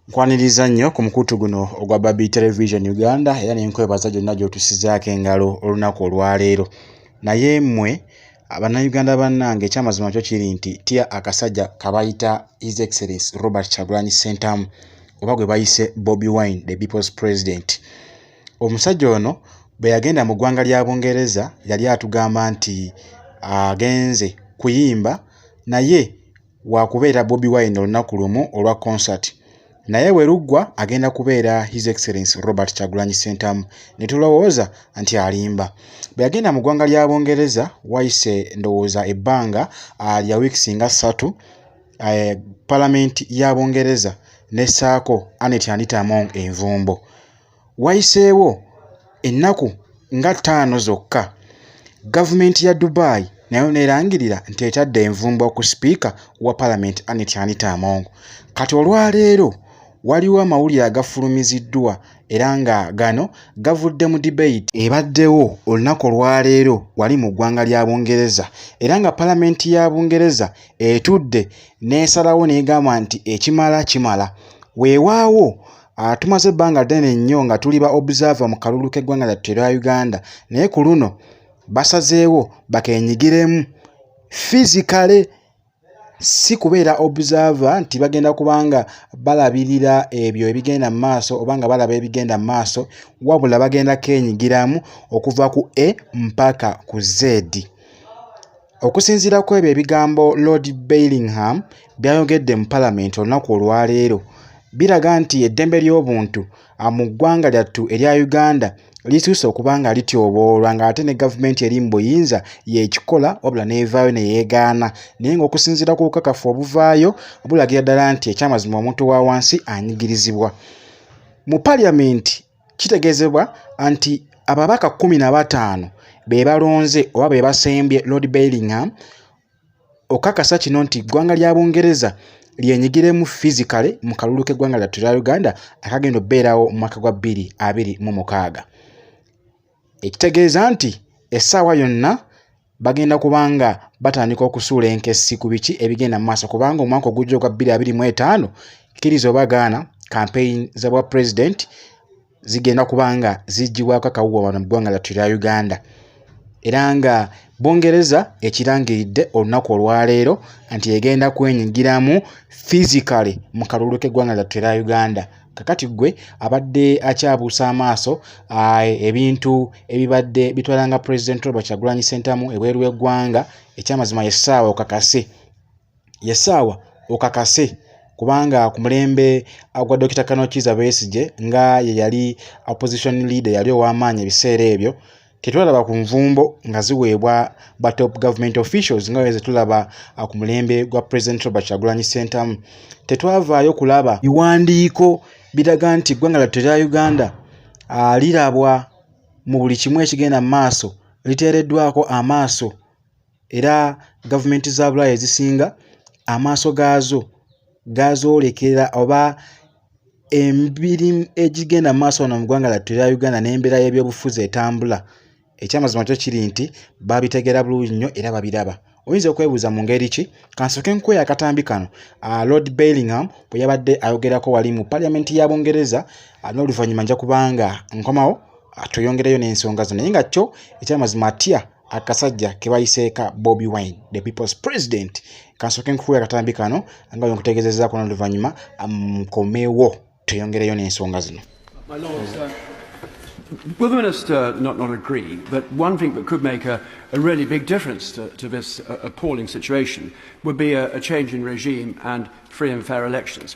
nkwaniriza nnyo ku mukutu guno ogwa babi television uganda era nenkwebaza gyonna gyotusizaako engalo olunaku olwaleero naye mmwe abannayuganda bannange ekyamazima kyo kiri nti tya akasajja kabayita his excellence robert chagulanyi sentamu oba gwe bayise bobi wine the people's president omusajja ono bwe yagenda mu ggwanga lya bungereza yali atugamba nti agenze kuyimba naye waakubeera Bobi Wine olunaku lumu olwa concert naye bwe luggwa agenda kubeera His Excellence Robert Kyagulanyi Ssentamu ne tulowooza nti alimba. Bwe yagenda mu ggwanga lya Bungereza wayise ndowooza ebbanga ah, lya wiikisi nga ssatu eh, Palamenti ya Bungereza n'essaako Annet Anita Among envumbo. Wayiseewo ennaku nga ttaano zokka, gavumenti ya Dubai nayo n'erangirira nti etadde envumbo ku sipiika wa palamenti Annet Anita Among. Kati olwaleero waliwo amawulire agafulumiziddwa era nga gano gavudde mu debate ebaddewo olunaku olwaleero wali mu ggwanga lya Bungereza era nga palamenti ya Bungereza etudde n'esalawo n'egamba nti ekimala kimala. Weewaawo Ah, tumaze ebbanga ddene nnyo nga tuli ba observer mu kalulu k'eggwanga lyattu erya uganda naye ku luno basazeewo bakenyigiremu fizikale si kubeera observer nti bagenda kubanga balabirira ebyo ebigenda mu maaso oba nga balaba ebigenda mu maaso wabula bagenda kenyigiramu okuva ku a mpaka ku zedi Okusinziira ku ebyo ebigambo Lord Bellingham by'ayogedde mu Palamenti olunaku olwaleero, biraga nti eddembe ly'obuntu ah, mu ggwanga lyattu erya Uganda lisuuse okuba nga lityoboolwa ng'ate ne gavumenti eri mu buyinza y'ekikola wabula n'evaayo ne yeegaana naye ng'okusinziira ku bukakafu obuvaayo bulagira ddala nti ekyamazima omuntu wa wansi anyigirizibwa mu Palamenti. Kitegeezebwa nti ababaka kkumi na bataano be balonze oba be basembye Lord Bellingham okakasa kino nti eggwanga lya Bungereza lyenyigiremu physically mu kalulu k'eggwanga lyattu lya Uganda akagenda okubeerawo mu mwaka gwa bbiri abiri mu mukaaga. ekitegeeza nti essaawa yonna bagenda kubanga batandika okusuula enkessi ku biki ebigenda mu maaso kubanga omwaka ogujja ogwa 2025 kkiriza oba gaana kampeyini za bwa pulezidenti zigenda kubanga ziggibwako akawuwa wano mu ggwanga lyattu erya uganda era nga bungereza ekirangiridde olunaku olwaleero nti egenda kwenyigiramu physically mu kalulu k'eggwanga lyattu erya uganda kakati gwe abadde akyabuusa amaaso ebintu ebibadde bitwala nga president robert kyagulanyi sentamu ebweru w'eggwanga ekyamazima yesaawa okakase yesaawa okakase kubanga ku mulembe gwa dokita kanokiza besigye nga ye yali opposition leader yali ow'amaanyi ebiseera ebyo tetulaba ku nvumbo nga ziweebwa ba top government officials nga weze tulaba ah, ku mulembe gwa president robert kyagulanyi sentamu tetwavaayo kulaba biwandiiko biraga nti eggwanga lyattu erya uganda ah, lirabwa mu buli kimu ekigenda mu maaso liteereddwako amaaso era gavumenti za bulaaya ezisinga amaaso gaazo gazoolekera oba emibiri egigenda mu maaso wano mu ggwanga lyattu erya uganda n'embeera y'ebyobufuzi etambula ekyamazima kyo kiri nti babitegeera bulungi nnyo era babiraba oyinza okwebuuza mu ngeri ki kansooke nkukoya akatambi kano ah, lord bellingham bwe yabadde ayogerako wali mu paliamenti ya bungereza ah, n'oluvannyuma nja kubanga nkomawo ah, tweyongereyo n'ensonga zo naye nga kyo ekyamazima atya akasajja kebayiseeka bobi wine the people's president kansooke nkukuwa akatambi kano nga wenkutegezezaako noluvannyuma nkomewo um, tweyongereyo n'ensonga zino Will the Minister not, not agree that one thing that could make a, a really big difference to, to this uh, appalling situation would be a, a change in regime and free and fair elections?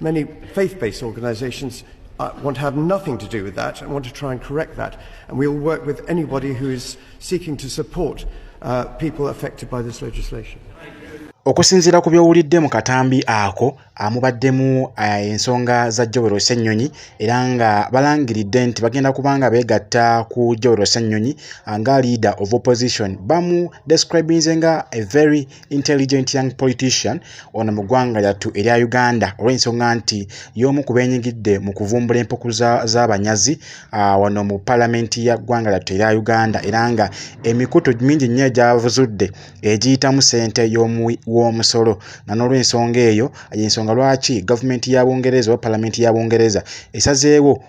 Many faith-based organisations uh, want to have nothing to do with that and want to try and correct that. And we will work with anybody who is seeking to support uh, people affected by this legislation. okusinziira ku byowulidde mu katambi ako amubaddemu eh, ensonga za jowero ssennyonyi era nga balangiridde nti bagenda kubanga beegatta ku jowero ssennyonyi eh, nga leader of opposition bamu describinze nga a very intelligent young politician ono mu ggwanga lyattu erya uganda olw'ensonga nti y'omu ku benyigidde mu kuvumbula empuku z'abanyazi ah, wano mu palamenti ya ggwanga lyattu erya uganda era nga emikutu mingi nnyo egyavuzudde egiyitamu ssente w'omusolo nga n'olw'ensonga eyo yensonga lwaki gavumenti ya bungereza oba palamenti ya bungereza esazeewo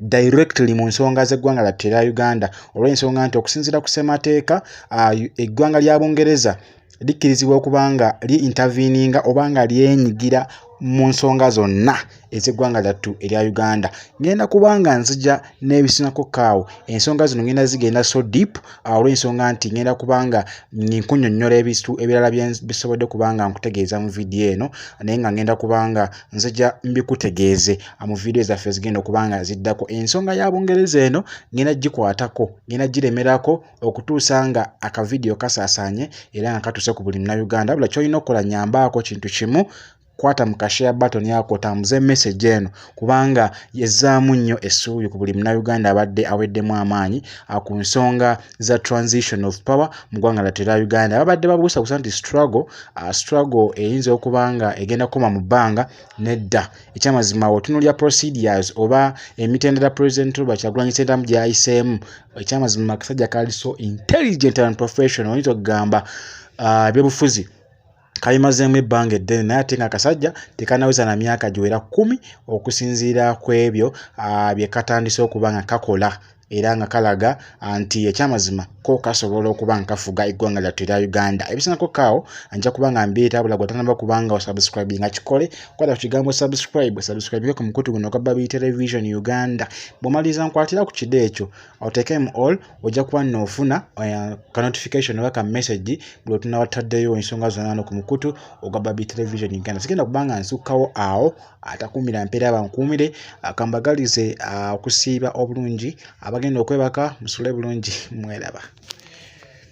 directly mu nsonga z'eggwanga lyatte erya uganda olw'ensonga nti okusinziira ku ssemateeka uh, eggwanga lya bungereza likkirizibwa okuba nga li interveninga oba nga lyenyigira mu nsonga zonna ez'eggwanga lyattu erya uganda ngenda kubanga nzija n'ebisinako kaawo ensonga zino ngenda zigenda so deep ah, olw'ensonga nti ngenda kubanga nkunyonnyola ebistu ebirala byebisobodde kubanga nkutegeeza mu vidiyo eno naye nga ngenda kubanga nzija mbikutegeeze mu vidiyo zaffe zigenda okuba nga ziddako ensonga ya bungereza eno ngenda gikwatako ngenda giremerako okutuusa nga akavidiyo kasaasaanye era nga katuuse ku buli munauganda bula kyolina okukola nyambaako kintu kimu kwata mu kashare button yako otambuze message eno kubanga yezzaamu nnyo essuubi ku buli munauganda abadde aweddemu amaanyi ah, ku nsonga za transition of power mu ggwanga latyo erya uganda ababadde babuusabusa nti struggle ah, struggle eyinza okuba nga egenda kukoma mu bbanga nedda ekyamazima otunulya procedures oba emitendera president oba kyagulanyi sentamu gyayiseemu ekyamazima akasajja kali so intelligent and professional oyinza okugamba ah, ebyobufuzi uh, kalimazeemu ebbanga eddene naye ate nga kasajja tekanaweza na myaka giwera kkumi okusinziira ku ebyo ah, bye katandise okuba nga kakola era nga kalaga ah, nti ekyamazima ko kasobola okuba nga kafuga eggwanga lyattu erya uganda ebisingako kaawo nja kuba nga mbiita bula gwe tanaba kubanga osubscribe nga kikole kwata ku kigambo subscribe subscribe ku mukutu guno ogwa babi television uganda bwomaliza nkwatira ku kide ekyo oteekemu all ojja kuba nno ofuna eh, ka notification oba ka message buli otunaba tutaddeyo ensonga zonna no ku mukutu ogwa babi television uganda sigenda kubanga nsukkawo awo atakuumira mpeera bankuumire akambagalize okusiiba obulungi abagenda okwebaka musule bulungi mweraba